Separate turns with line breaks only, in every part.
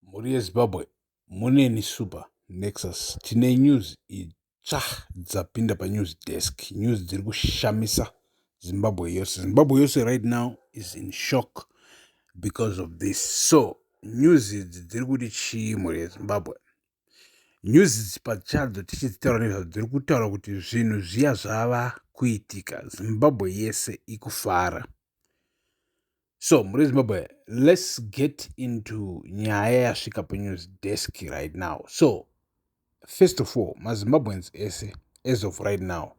Mhuri yeZimbabwe muneni super nexus tine news itsva dzapinda panews desk news dziri kushamisa Zimbabwe yose Zimbabwe yose right now is in shock because of this so news idzi dziri kuti chii mhuri yeZimbabwe nyuzi pachadzo tichidzitaura nezvadzo dziri kutaura kuti zvinhu zviya zvava kuitika zimbabwe yese ikufara so muri zimbabwe let's get into nyaya yasvika panews desk right now so first of all mazimbabweans ese as of right now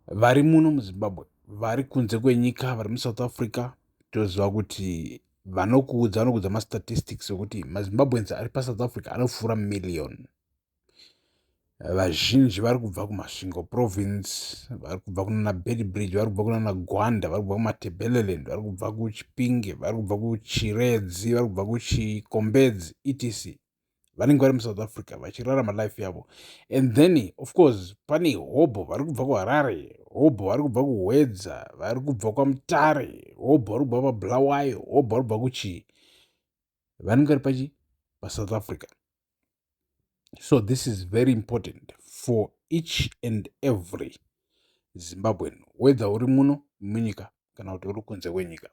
vari muno muzimbabwe vari kunze kwenyika vari musouth africa toziva kuti vanokuudza vanokuudza mastatistics okuti mazimbabweans ari pasouth africa anopfuura million vazhinji vari kubva kumasvingo province vari kubva kunana bedbridge vari kubva kunana gwanda vari kubva kumatebeleland vari kubva kuchipinge vari kubva kuchiredzi vari kubva kuchikombedzi etc vanenge vari musouth africa vachirarama life yavo and then of course pane hobho vari kubva kuharare hobho vari kubva kuhwedza vari kubva kwamutare hobho vari kubva pabulawayo hobho vari kubva kuchii vanenge vari pachi pasouth africa so this is very important for each and every zimbabwean whether uri muno munyika kana kuti uri kunze kwenyika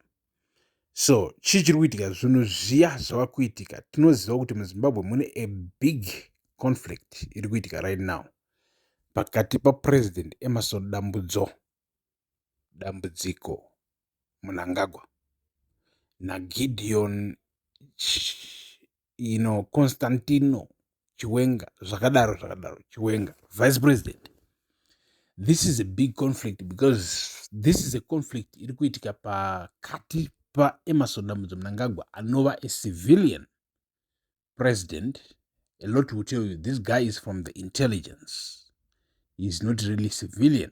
so chii chiri kuitika zvinhu zviya zvava kuitika tinoziva kuti muzimbabwe mune a big conflict iri kuitika right now pakati papresident emerson dambudzo dambudziko munangagwa nagideon ino constantino chiwenga zvakadaro zvakadaro chiwenga vice president this is a big conflict because this is a conflict iri kuitika pakati paemerson dambudzo mnangagwa anova a civilian president a lot will tell you this guy is from the intelligence he is not really civilian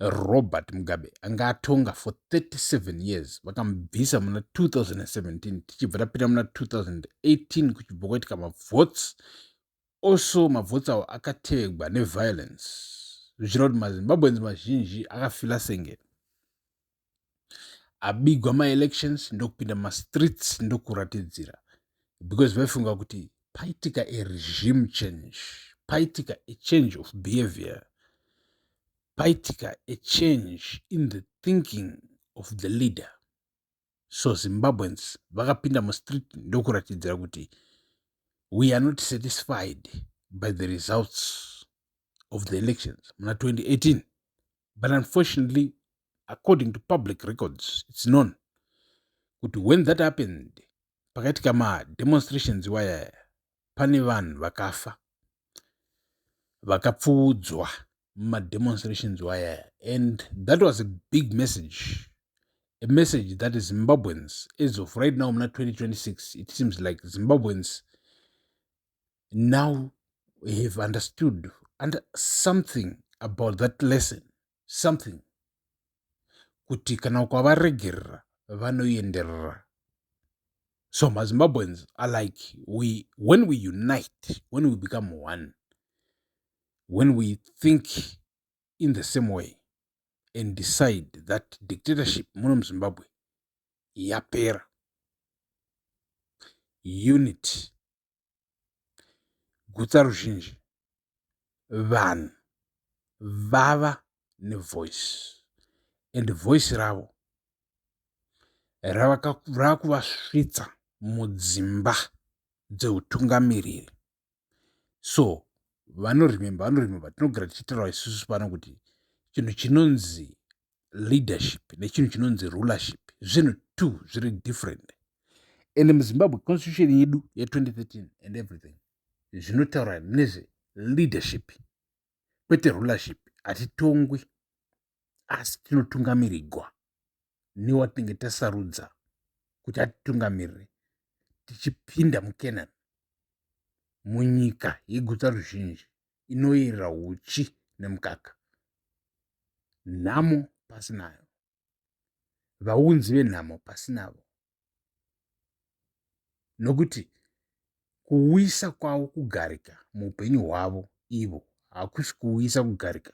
Robert Mugabe anga atonga for 37 years vakamubvisa muna 2017 tichibva tapinda muna 2018 kuchibva kwaitika mavotes also mavotes avo akatevegwa neviolence zvichira kuti mazimbabweans mazhinji akafila senge abigwa maelections ndokupinda mumastreets ndokuratidzira because vaifunga kuti paitika aregime change paitika achange of behavior paitika achange in the thinking of the leader so zimbabweans vakapinda mustreet ndokuratidzira kuti we are not satisfied by the results of the elections muna 2018 but unfortunately according to public records its known kuti when that happened pakaitika mademonstrations iwayaya pane vanhu vakafa vakapfuudzwa mumademonstrations iwayaya and that was a big message a message that zimbabweans as of right now muna 2026 it seems like zimbabweans now have understood under something about that lesson something kuti kana ukavaregerera vanoenderera so mazimbabweans are like we when we unite when we become one when we think in the same way and decide that dictatorship muno muzimbabwe yapera unity gutsa ruzhinji vanhu vava nevoice and voice ravo rakuvasvitsa mudzimba dzeutungamiriri so vanorememba vanorememba tinogara tichitaura isusu pano kuti chinhu chinonzi leadership nechinhu chinonzi rulership zvinhu two zviri different and muzimbabwe constitution yedu ye2013 and everything zvinotaura nezve leadership kwete rulership hatitongwi asi tinotungamirigwa newatinenge tasarudza kuti atitungamirire tichipinda mukenani munyika yegutsa ruzhinji inoyerera uchi nemukaka nhamo pasinayo vaunzi venhamo pasinavo nokuti kuuyisa kwavo kugarika muupenyu hwavo ivo hakusi kuuyisa kugarika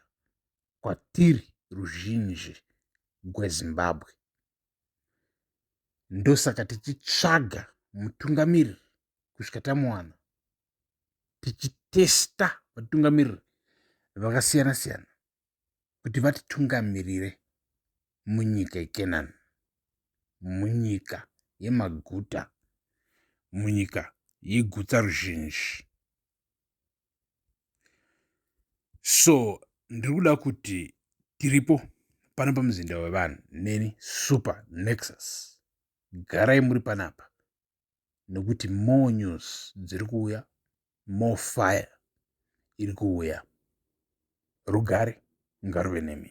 kwatiri ruzhinji gwezimbabwe ndosaka tichitsvaga mutungamiri kusvika tamuwana tichitesta vatungamiriri vakasiyana siyana kuti vatitungamirire munyika yekenani munyika yemaguta munyika yegutsa ruzhinji so ndiri kuda kuti tiripo pano pamuzinda wevanhu neni super nexus garai muri panapa nekuti more news dziri kuuya more fire iri kuuya rugare ngaruve nemi